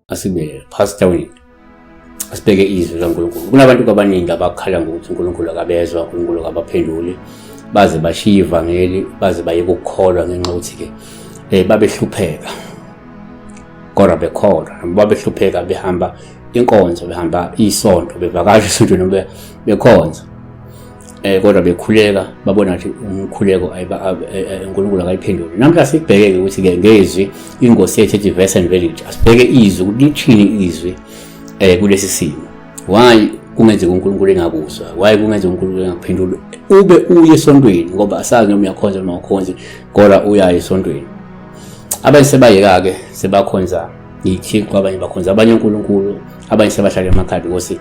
asibe passed away asibheke izwi laNkulunkulu kunabantu kwabaningi abakhala ngokuthi uNkulunkulu akabezwa uNkulunkulu akabaphenduli baze bashiye ivangeli baze bayeke ukukholwa ngenxa yokuthi ke eh babehlupheka kodwa bekholwa babehlupheka behamba inkonzo behamba isonto bevakasha isonto noma bekhonza eh kodwa bekhuleka babona ukuthi umkhuleko eh, eh, uNkulunkulu akayiphendule namhla sibheke ukuthi ke ngezwi ingosi yethu ethi verse and village asibheke izwi ukuthi lithini izwi eh kulesi simo why kungenzeka uNkulunkulu engakuzwa why kungenzeka uNkulunkulu engakuphendula ube uye esontweni ngoba asazi noma uyakhonza noma ukhonzi kodwa uya esontweni abanye sebayeka ke sebakhonza yithixo abanye bakhonza abanye uNkulunkulu abanye sebahlala emakhaya because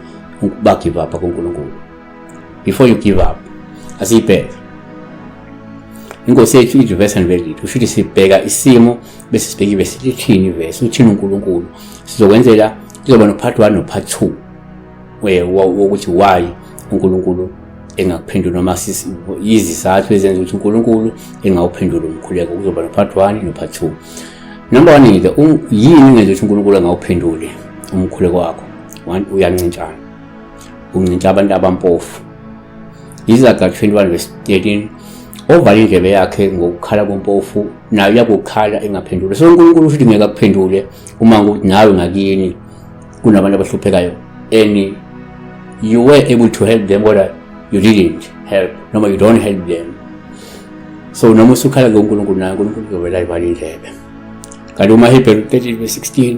bagive up kuNkulunkulu before you give up asiyibheke inkosi yethu ithi verse aniveli kusho ukuthi sibheka isimo bese sibheke ibe silithini ivesi uthini unkulunkulu sizokwenzela kuzoba nopart one nopart two wokuthi why unkulunkulu engakuphendula noma yizizathu ezenza ukuthi unkulunkulu engawuphendula umkhuleko kuzoba nopart one nopart two number one yini ungenza ukuthi unkulunkulu engawuphenduli umkhuleko wakho uyancintshana uncinta abantu abampofu izaga 21 verse 13 ovala indlebe yakhe ngokukhala kompofu nayo yakukhala engaphendule so unkulunkulu ushuthi ngeke akuphendule uma ngokuthi nawe ngakini kunabantu abahluphekayo and you were able to help them kodwa you didn't help noma you don't help them so noma usukhala ke unkulunkulu naye unkulunkulu uzovela ivala indlebe kanti umahebheru 13 verse 16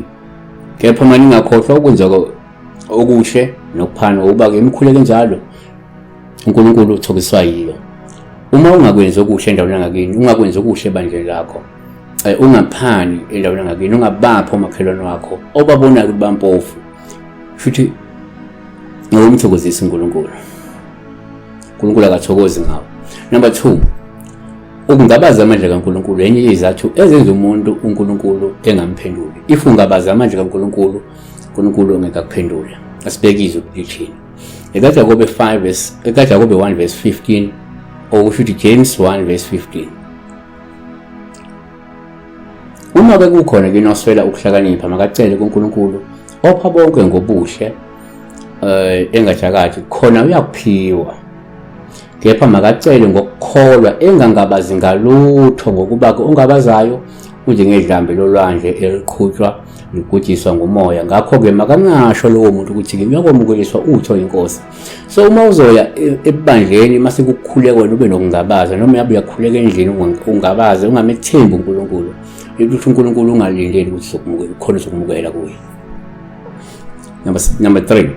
kepha uma ningakhohlwa ukwenzeka okuhle nokuphana ngokuba ke imikhuleko enjalo uNkulunkulu uthokiswa yiyo uma ungakwenzi okuhle endaweni yangakini ungakwenzi okuhle ebandleni lakho eh, ungaphani endaweni yangakini ungabaphi omakhelwane wakho obabonayo ukuthi bampofu futhi ngokumthokozisa uNkulunkulu uNkulunkulu akathokozi ngawo number 2 ukungabaza amandla kaNkulunkulu enye izathu ezenza umuntu uNkulunkulu engamphenduli if ungabaza amandla kaNkulunkulu uNkulunkulu ongeke akuphendule asibekizwe ukuthi lithini ekaJakobe 5 verse ekaJakobe 1 verse 15 okusho ukuthi James 1 verse 15 Uma ke kukhona ke noswela ukuhlakanipha makacele kuNkulunkulu opha bonke ngobuhle eh engajakathi khona uyakuphiwa kepha makacele ngokukholwa engangabazi ngalutho ngokuba ke ongabazayo unjengedlambe lolwandle eliqhutshwa ngibhujiswa ngumoya ngakho-ke makangasho lowo muntu ukuthi-ke uyakwamukeliswa utho inkosi so uma uzoya e, ebandleni uma sekukhuleka wena ube nokungabaza noma yabe uyakhuleka endlini ungabaze ungamethembi unkulunkulu ukuthi unkulunkulu ungalindeli ukuthi khona uzokumukela kuye number three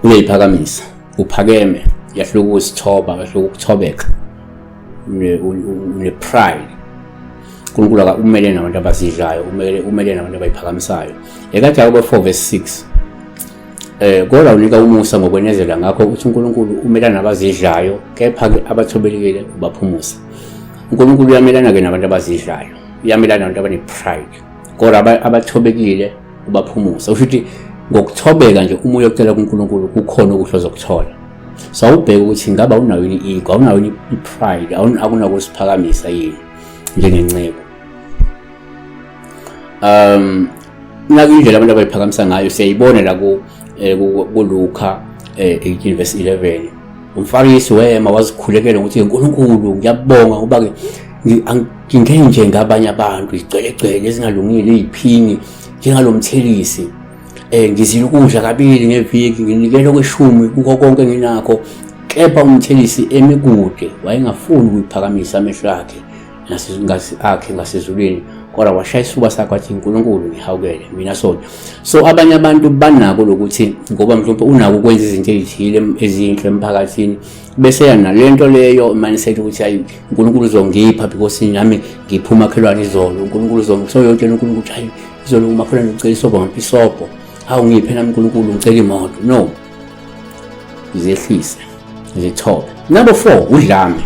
uyayiphakamisa uphakeme yahluka usithoba yahluka ukuthobeka une-pride unkulunkulu akumele nabantu abazidlayo umele nabantu abayiphakamisayo ekade akubo 4 verse 6 eh kodwa unika umusa ngokwenezela ngakho ukuthi uNkulunkulu umelana nabazidlayo kepha ke abathobelekile ubaphumusa uNkulunkulu uyamelana ke nabantu abazidlayo uyamelana nabantu abane pride kodwa abathobekile ubaphumusa usho ukuthi ngokuthobeka nje umuntu ocela kuNkulunkulu kukhona okuhloza ukuthola so awubheke ukuthi ngabe awunayo yini i-ego awunayo yini i-pride akunakusiphakamisa yini njengenceku um naku indlela abantu abayiphakamisa ngayo siyayibona la eh, kulukha 18 eh, verse 11 umfarisi wema wazikhulekela ukuthi nkulunkulu ngiyabonga ngoba-ke ngingenje ngabanye abantu igcwelegcwele ezingalungile iy'phini njengalomthelisi Eh ngizile ukudla kabili ngeviki nginikele kweshumi kuko konke nginakho kepha umthelisi emikude wayengafuni ukuyiphakamisa amehlo akhe nasezingazi akhe ngasezulwini kodwa washaya isifuba sakhe wathi uNkulunkulu ngihawukele mina sona so abanye abantu banako lokuthi ngoba mhlawumbe unako ukwenza izinto ezithile ezinhle emphakathini bese yana lento leyo manisethi ukuthi hayi uNkulunkulu uzongipha because nami ngipha umakhelwane izolo uNkulunkulu uzongipha so yotshela uNkulunkulu ukuthi hayi izolo umakhelwane ucela isobho ngipha isobho hawu ngiphe nami uNkulunkulu ngicela imoto no zehlise zithobe number 4 udlame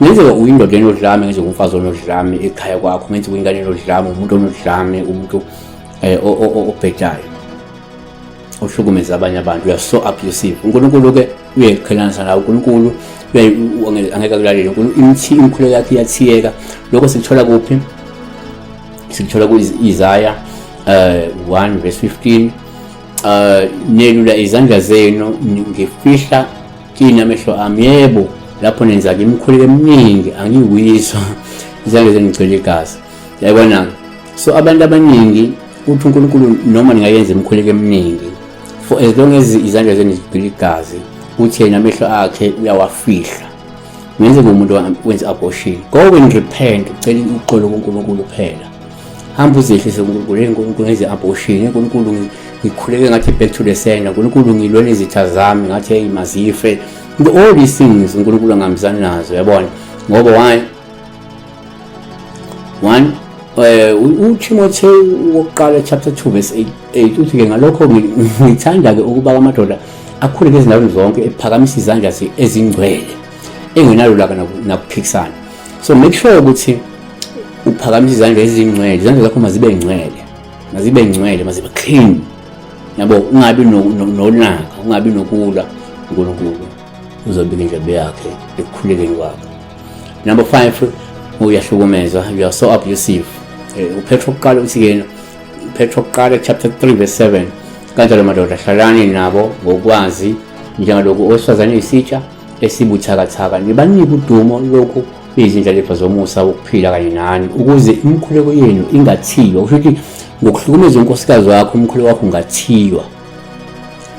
ngenzeka uyindoda enodlame ngenzeka umfazi onodlame ekhaya kwakho ngenzeka ingane enodlame umuntu onodlame umuntu eh, obhedayo ohlukumeza abanye abantu you are so abusive uNkulunkulu ke uyayiqhelanisa nawo uNkulunkulu angeke akulalele uNkulunkulu imkhuleko yakhe iyathiyeka lokho sikuthola kuphi sikuthola ku-Isaya eh, um 1 verse 15 um nelula izandla zenu ngifihla kini amehlo ami yebo lapho nenza-ke imikhuleko eminingi angiyiwiswa izandla zenu ngigcwele igazi yayibona-ke so abantu abaningi uthi unkulunkulu noma ningayenza imikhuleko eminingi for as long as izandla zenu zigcwele igazi uthi yena amehlo akhe uyawafihla ngenze ngomuntu wenze abortion go and repent ucela uxolo kuNkulunkulu kuphela hamba uzehlise kuNkulunkulu enkulunkulu ngenze abortion enkulunkulu ngikhuleke ngathi back to the sender uNkulunkulu ngilwele izitha zami ngathi hey mazife all these things uNkulunkulu angamzani nazo yabona ngoba why 1 eh uThimotheo wokuqala chapter 2 verse 8 uthi ke ngalokho ngithanda ke ukuba amadoda akhule ngezindaweni zonke ephakamisa izandla ezingcwele engenalulaka nakuphikisana so make sure ukuthi uphakamisa izandla ezingcwele izandla zakho mazibe ngcwele mazibe ngcwele mazibe clean yabo ungabi nolaka ungabi nokulwa uNkulunkulu uzobika indlebe yakhe ekukhulekeni kwakhe number five uyahlukumezwa you are so abusive eh, uphetha okuqala uthi kena uphetha okuqala chapter 3 verse 7 kanjalo madoda hlalani nabo ngokwazi njengalokhu owesifazane isitsha esibuthakathaka nibanike udumo lokhu izindlalifa zomusa wokuphila kanye nani ukuze imikhuleko yenu ingathiywa kusho ukuthi ngokuhlukumeza unkosikazi wakho umkhuleko wakho ungathiywa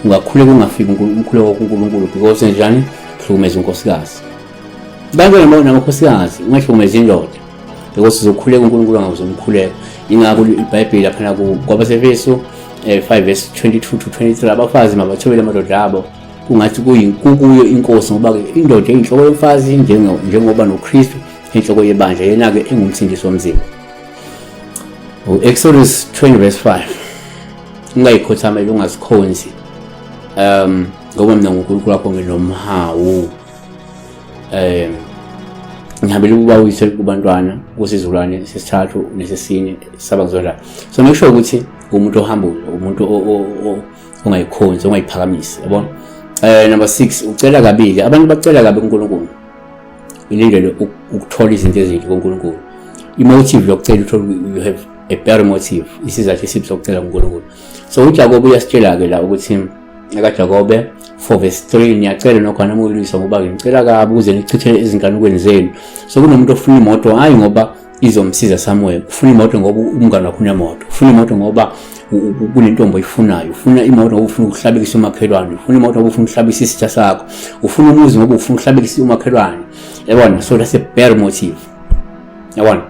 ungakhuleka ungafiki umkhuleko wokunkulunkulu because njani hlukumeza unkosikazi bantu namakhosikazi ungahlukumeza indoda because uzokhuleka unkulunkulu angawuze umkhuleko ingakho ibhayibheli laphana kwabasefeso um eh, 5 vs 22 to 23 abafazi mabathobele amadoda abo kungathi kukuyo inkosi ngoba-ke indoda eyinhloko yomfazi njengoba nokristu enhloko yebandla yena-ke engumsindisi womzimba u-exodus 20 vs 5 ungayikhothamela ungazikhonzi um ngoba mina ngunkulunkulu wakho nginomhawu um ngihambela ukuba uyise kubantwana kusizukulwane sesithathu nesesine saba ngizodlala so make sure ukuthi umuntu ohamba umuntu ongayikhonzi ongayiphakamisi yabona um number six ucela kabili abantu bacela kabi kunkulunkulu ilindele ukuthola izinto ezinhle kunkulunkulu imotive yokucela uthole you have a better motive isizathu esibi sokucela uNkulunkulu so uJakobe uyasitshela ke la ukuthi ekaJakobe 4 verse 3 niyacela nokho anamulisa ngoba ngicela kabi ukuze nichithele izinganekweni zenu so kunomuntu ofuna imoto hayi ngoba izomsiza somewhere ufuna imoto ngoba umngane wakho unemoto ufuna imoto ngoba kunentombi oyifunayo ufuna imoto ngoba ufuna ukuhlabekisa umakhelwane ufuna imoto ngoba ufuna ukuhlabekisa isitha sakho ufuna umuzi ngoba ufuna ukuhlabekisa umakhelwane yabona so that's a better motive yabona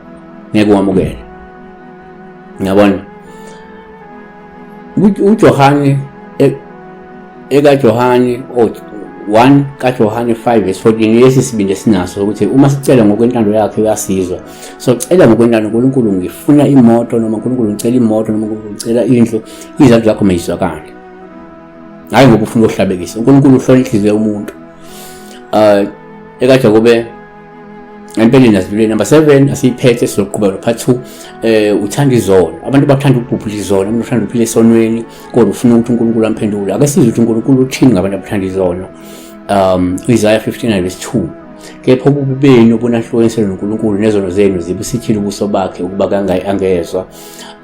ngeke wamukele yabona uJohane e, ekaJohane o 1 kaJohane 5 verse 14 lesi sibindi esinaso ukuthi uma sicela ngokwentando yakhe uyasizwa so cela ngokwentando uNkulunkulu ngifuna imoto noma uNkulunkulu ngicela imoto noma uNkulunkulu ngicela indlu izandla zakho mayizwakale hayi ngoba ufuna ukuhlabekisa uNkulunkulu uhlola inhliziyo yomuntu uh ekaJakobe empeleni asivile number 7 asiyiphethe sizoqhubeka lo part 2 eh uthanda izona abantu bathanda ukubhubhula izona umuntu uthanda ukuphila esonweni kodwa ufuna ukuthi uNkulunkulu amphendule ake sizwe ukuthi uNkulunkulu uthini ngabantu abathanda izona um Isaiah 59 verse 2 kepha ububi benu obunahlukanisele noNkulunkulu nezono zenu zibusithile ubuso bakhe ukuba kangayi angezwa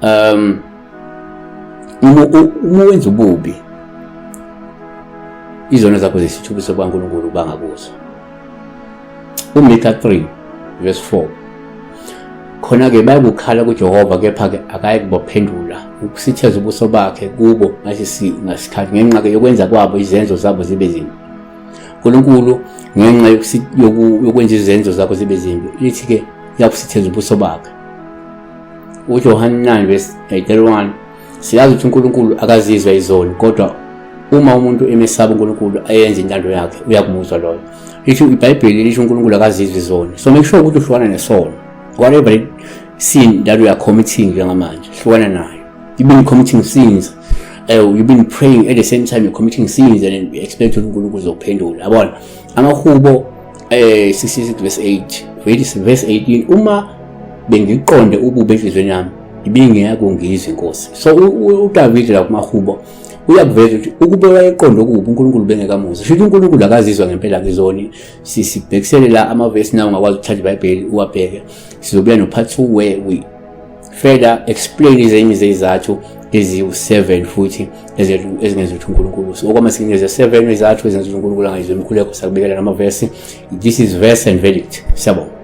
um uma wenza ububi izono zakho zesithubiso kwaNkulunkulu bangakuzwa uMika 3 verse 4 khona-ke bayakukhala kujehova kepha-ke akayi kubaphendula ukusitheza ubuso bakhe kubo ngasikhathi ngenxa-ke yokwenza kwabo izenzo zabo zibe zimbi unkulunkulu ngenxa yokwenza izenzo zakho zibe zimbi lithi-ke uyakusitheza ubuso bakhe ujohane 9 verse 31 Siyazi ukuthi uNkulunkulu akazizwa izoni kodwa uma umuntu emesaba uNkulunkulu ayenze intando yakhe uyakumuzwa loyo. Lisho iBhayibheli lisho uNkulunkulu akazizwa izoni. So make sure ukuthi uhlukana nesono. Whatever sin that we are committing njengamanje, hlukana nayo. You've been committing sins. Uh, you've been praying at the same time you're committing sins and you expect uNkulunkulu uzokuphendula. Yabona? Amahubo eh 66 verse 8 verse verse 18 uma bengiqonde ubube enhlizweni yami ibingeyaku ngizwe inkosi so uDavid la kumahubo uyakuveza ukuthi ukube wayeqonde okubi uNkulunkulu bengekamuzi shuthi uNkulunkulu akazizwa ngempela ngizoni sisibhekisele la amavesi nawo ngakwazi ukuthatha iBhayibheli uwabheke sizobuya no part 2 where we further explain ezinye zezizathu eziwu-7 futhi ezingenza ukuthi unkulunkulu use okwamasikinya ze-7 izathu ezenza ukuthi unkulunkulu angayizwa imikhuleko sakubekela namavesi this is verse and verdict siyabonga